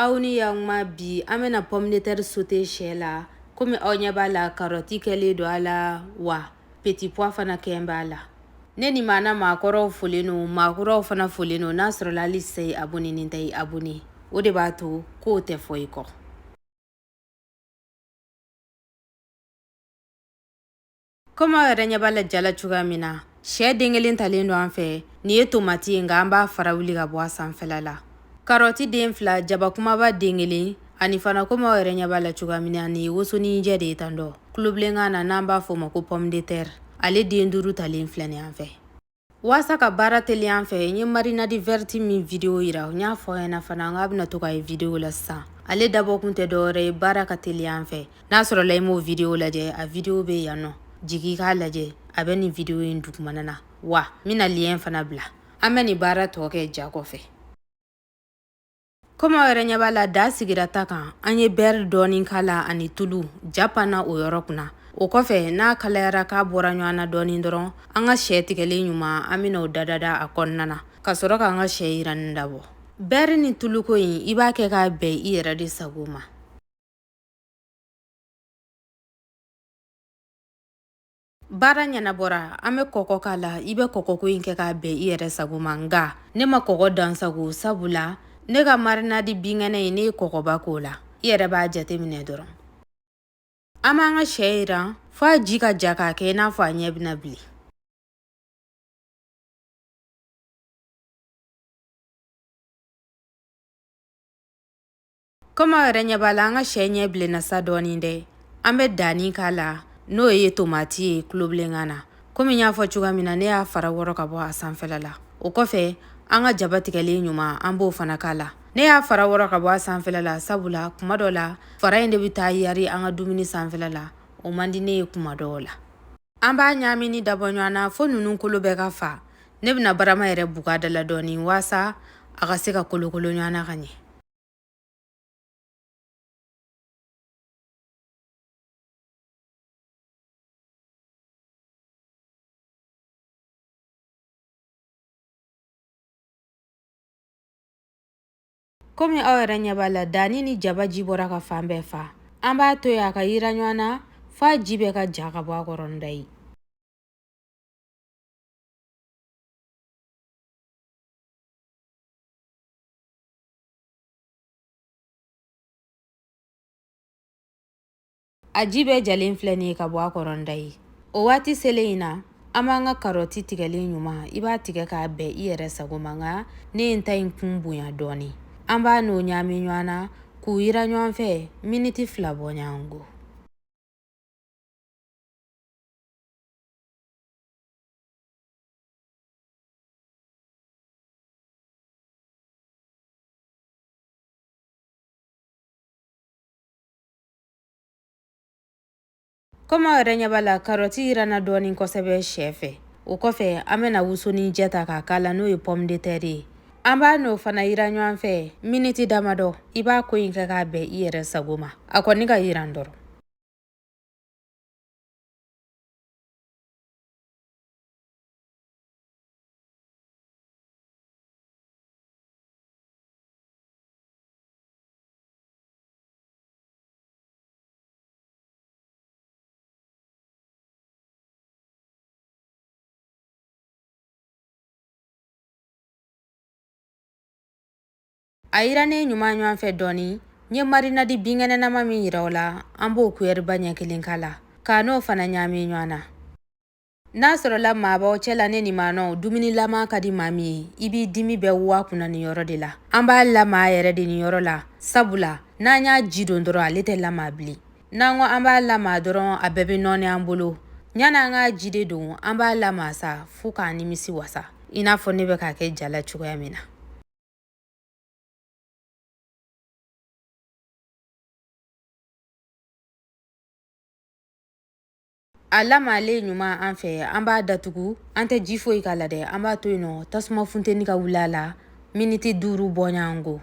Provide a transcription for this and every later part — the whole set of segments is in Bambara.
aw ni yakuma bi an bɛna pomme de terre sote sɛ la kɔmi aw ɲɛ b'a la karɔti kɛlen don a la wa petipwa fana kɛlen b'a la ne ni maana maakɔrɔw folen don maakɔrɔw fana folen don n'a sɔrɔla hali sa i abonenin tɛ i abone o de b'a to ko tɛ fɔ i kɔ komi aw yɛrɛ ɲɛ b'a la ja la cogoya min na sɛ den kelen talen don an fɛ nin ye tomati ye nka an b'a fara wuli ka bɔ a sanfɛla la karɔti den fila jaba kumaba den kelen ani fana komi aw yɛrɛ ɲɛ b'a la cogoya min na nin ye wosoninjɛ de ye tan dɔ kulobilenkan na n'an b'a fɔ o ma ko pomme de terre ale den duuru talen filɛ nin an fɛ Waasa ka baara teliya an fɛ n ye marinade verte min video yira n y'a fɔ ɲɛna fana n k'a bɛna to ka ye video la sisan ale dabɔkun tɛ dɔwɛrɛ ye baara ka teliya an fɛ n'a sɔrɔla i m'o video lajɛ a video bɛ yan nɔ jigi k'a lajɛ a bɛ nin video in dugumana na wa n bɛna lien fana bila an bɛ nin baara tɔ kɛ ja kɔfɛ Kɔmi aw yɛrɛ ɲɛ b'a la daa sigira ta kan an ye bɛri dɔɔni k'a la ani tulu ja panna o yɔrɔ kunna o kɔfɛ n'a kalayara k'a bɔra ɲɔgɔn na dɔɔni dɔrɔn an ka sɛ tigɛlen ɲuman an bɛna o dadada a kɔnɔna na ka sɔrɔ k'an ka sɛ yiranni dabɔ bɛri ni tuluko in i b'a kɛ k'a bɛn i yɛrɛ de sago ma baara ɲɛnabɔra an bɛ kɔkɔ k'a la i bɛ kɔkɔko in kɛ k'a bɛn i yɛrɛ sago ma nka ne ma kɔkɔ dansago sabu la ne ka marinadi binkɛnɛ in ne ye kɔkɔba k'o la i yɛrɛ b'a jate minɛ dɔrɔn an b'an ka sɛ yiran fo a ji ka ja k'a kɛ i n'a fɔ a ɲɛ bɛna bilen komi aw yɛrɛ ɲɛ b'a la an ka sɛ ɲɛ bilenna sa dɔɔnin dɛ an bɛ danni k'a la n'o ye tomati ye kulobilenkan na komi n y'a fɔ cogoya min na ne y'a fara wɔrɔ ka bɔ a sanfɛla la o kɔfɛ an ka jaba tigɛlen ɲuman an b'o fana k'a la ne y'a fara wɔrɔ ka bɔ a sanfɛla la sabula kuma dɔ la fara in de bɛ taa yari an ka dumuni sanfɛla la o man di ne ye kuma dɔw la an b'a ɲaamini dabɔ ɲɔgɔn na fo ninnu kolo bɛɛ ka fa ne bɛna barama yɛrɛ buga da la dɔɔnin waasa a ka se ka kolokolo ɲɔgɔn na ka ɲɛ komi aw yɛrɛ ɲɛ b'a la danni ni jaba ji bɔra ka fan bɛɛ fa an b'a to yen a ka yiran ɲɔgɔn na f'a ji bɛɛ ka ja ka bɔ a kɔrɔ nda ye a ji bɛɛ jalen filɛ nin ye ka bɔ a kɔrɔnda ye o waati selen in na an b'an ka karɔti tigɛlen ɲuman i b'a tigɛ k'a bɛn i yɛrɛ sago ma nka ne ye n ta in kun bonya dɔɔnin an b'a n'o ɲaami ɲɔgɔn na k'u yiran ɲɔgɔn fɛ miniti fila bɔɲɔgɔnko Komi aw yɛrɛ ɲɛ b'a la karɔti yiranna dɔɔni kosɛbɛ shɛ fɛ o kɔfɛ an bɛna wosoninjɛ ta k'a k'a la n'o ye pomme de terre ye an b'a n'o fana yiran ɲɔgɔn fɛ miniti damadɔ i b'a ko in kɛ k'a bɛn i yɛrɛ sago ma a kɔni ka yiran dɔrɔn a yirannen ɲuman ɲɔgɔn fɛ dɔɔni n ye marinadi binkɛnɛnama min yira aw la an b'o kuyɛriba ɲɛ kelen k'a la k'a n'o fana ɲaami ɲɔgɔn na n'a sɔrɔla maa b'aw cɛ la ne ni maanɔw dumuni lamaa ka di maa min ye i b'i dimi bɛɛ waa kunna nin yɔrɔ de la an b'a lamaa yɛrɛ de nin yɔrɔ la sabula n'an y'a ji don dɔrɔn ale tɛ lamaa bilen n'an ko an b'a lamaa dɔrɔn a bɛɛ bɛ nɔɔni an bolo yanni an k'a ji de don an b'a lamaa sa fo k'an nimisi wasa i n'a fɔ ne bɛ k'a kɛ ja la cogoya min na a lamaalen ɲuman an fɛ an b'a datugu an tɛ ji foyi k'a la dɛ an b'a to yen nɔ tasuma funteni ka wuli a la miniti duuru bɔɲɔgɔnko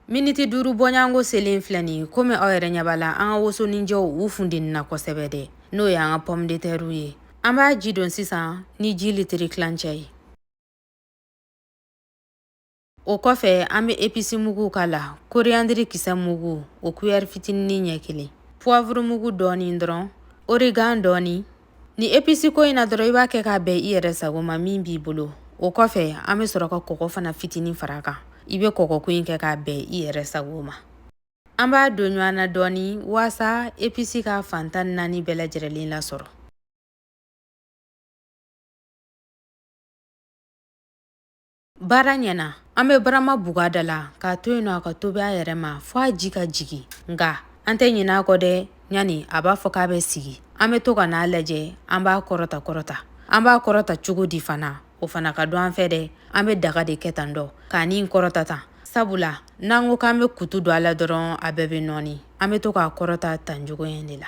Miniti duuru bɔɲɔgɔnko selen filɛ nin ye komi aw yɛrɛ ɲɛ b'a la an ka wosoninjɛw u funtenina kosɛbɛ dɛ n'o y'an ka pɔmu de tɛriw ye an b'a ji don sisan ni ji litiri tilancɛ ye o kɔfɛ an bɛ episi muguw k'a la koriyandiri kisɛ mugu o kuyɛri fitinin ɲɛ kelen puwavuru mugu dɔɔni dɔrɔn origan dɔɔni Nin episi ko in na dɔrɔn i b'a kɛ k'a bɛn i yɛrɛ sago ma min b'i bolo o kɔfɛ an bɛ sɔrɔ ka kɔgɔ fana fitinin fara a kan i bɛ kɔgɔ ko in kɛ k'a bɛn i yɛrɛ sago ma an b'a don ɲɔgɔn na dɔɔni waasa episi ka fan tan naani bɛɛ lajɛrɛlen lasɔrɔ baara ɲɛna an bɛ barama bug'a da la k'a to yen nɔ a ka tobi a yɛrɛ ma fo a ji ka jigin nka an tɛ ɲinɛ a kɔ dɛ ɲani a b'a fɔ k'a bɛ sigi an bɛ to ka n'a lajɛ an b'a kɔrɔta kɔrɔta an b'a kɔrɔta cogo di fana o fana ka dɔn an fɛ dɛ an bɛ daga de kɛ tan dɔ ka nin kɔrɔta tan sabula n'an ko k'an bɛ kutu don a la dɔrɔn a bɛɛ bɛ nɔɔni an bɛ to k'a kɔrɔta tan cogo in de la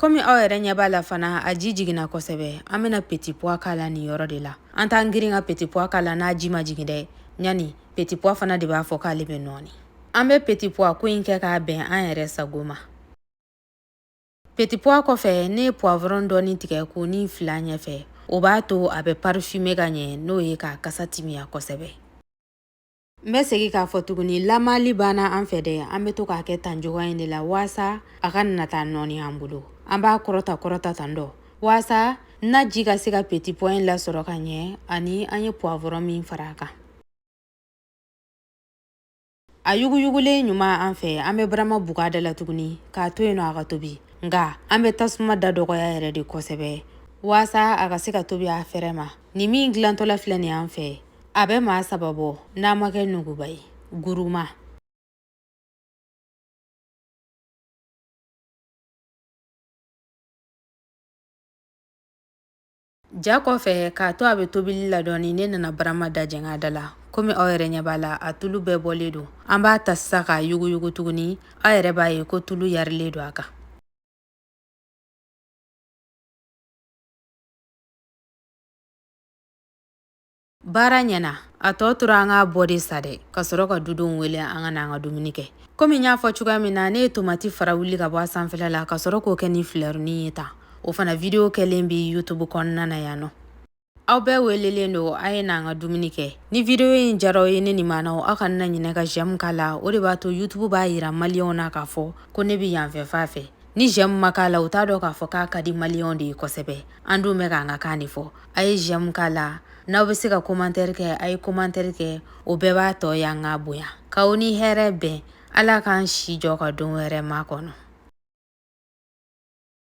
Komi aw yɛrɛ ɲɛ b'a la fana a ji jiginna kosɛbɛ an bɛna petit pois k'a la nin yɔrɔ de la an t'an girin ka petit pois k'a la n'a ji ma jigin dɛ yani petit pois fana de b'a fɔ k'ale bɛ nɔɔni an bɛ petit pois ko in kɛ k'a bɛn an yɛrɛ sago ma petit pois kɔfɛ ne ye poivron dɔɔni tigɛ k'o nin fil'a ɲɛfɛ o b'a to a bɛ parfumer ka ɲɛ n'o ye k'a kasa timiya kosɛbɛ N bɛ segin k'a fɔ tuguni lamaali banna an fɛ dɛ an bɛ to k'a kɛ tan cogoya in de la waasa a kana na taa nɔɔni an bolo an b'a kɔrɔta kɔrɔta tan dɔ waasa naji ka se ka petit pois in lasɔrɔ ka ɲɛ ani an ye poivron min fara a kan a yuguyugulen ɲuman an fɛ an bɛ barama bug'a da la tuguni k'a to yen nɔ a ka tobi nka an bɛ tasuma da dɔgɔya yɛrɛ de kosɛbɛ waasa a ka se ka tobi a fɛrɛ ma nin min dilantɔla filɛ nin an fɛ a bɛ maa saba bɔ n'a ma kɛ nuguba ye gourmand ja kɔfɛ k'a to a bɛ tobili la dɔɔni ne nana barama da jɛng'a da la komi aw yɛrɛ ɲɛ b'a la a tulu bɛɛ bɔlen don an b'a ta sisan k'a yuguyugu tuguni aw yɛrɛ b'a ye ko tulu yarilen don a kan baara ɲɛna a tɔ tora an k'a bɔ de sa dɛ ka sɔrɔ ka dudenw wele an ka na an ka dumuni kɛ komi n y'a fɔ cogoya min na ne ye tomati fara wuli ka bɔ a sanfɛla la ka sɔrɔ k'o kɛ ni filɛrinin ye tan o fana vidiyo kɛlen bɛ youtube kɔnɔna na yan nɔ aw bɛɛ welelen don a ye n'an ka dumuni kɛ ni vidiyo in diyar'aw ye ne ni maanaw aw kana na ɲinɛ ka j'aime k'a la o de b'a to youtube b'a yira maliyɛnw na k'a fɔ ko ne bɛ yanfɛ fan fɛ ni j'aime ma k'a la u t'a dɔn k'a fɔ k'a ka di maliyɛnw de ye kosɛbɛ an dun bɛ k'an ka kan de fɔ a ye j'aime k'a la n'aw bɛ se ka komantɛri kɛ a ye komantɛri kɛ o bɛɛ b'a to yan ka bonya k'aw ni hɛrɛ bɛn ala k'an si jɔ ka don wɛrɛ makɔnɔ